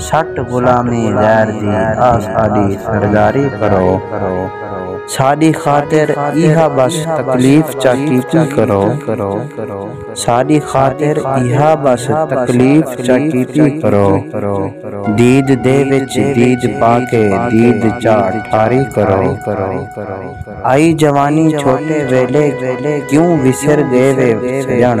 سٹ غلامی غیر دی آ ساڈی سرداری کرو ساڈی خاطر ایہا بس تکلیف چا کیتی کرو ساڈی خاطر ایہا بس تکلیف چا کیتی کرو دید دے وچ دید پا کے دید چا ٹھاری کرو آئی جوانی چھوٹے ویلے کیوں وسر گئے وے سجن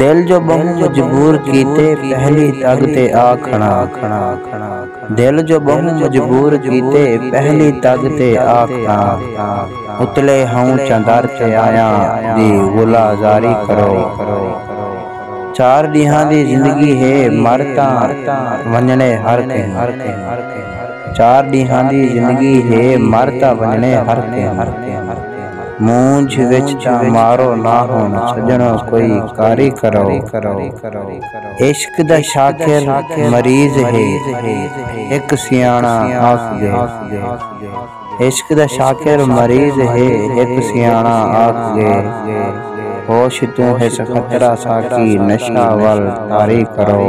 دل جو ٻہوں مجبور کیتے پہلی تگ تے آ کھڑاں دل جو ٻہوں مجبور کیتے پہلی تگ تے آ کھڑاں اتلے ہئوں چندر تے آیاں دی غلہ زاری کرو چار ݙینہاں دی زندگی ہے مر تاں ونڄݨے ہر کہیں چار ݙینہاں دی زندگی ہے مر تاں ونڄݨے ہر کہیں۔ مونجھ وچ تاں مارو نہ ہن سجنڑو کوئی کاری کرو عشق دا شاکر مریض ہے ہک سیاݨا آکھدے عشق دا شاکر مریض ہے ہک سیاݨا آکھدے ہوش توں ہس خطرہ ساقی نشہ ول طاری کرو۔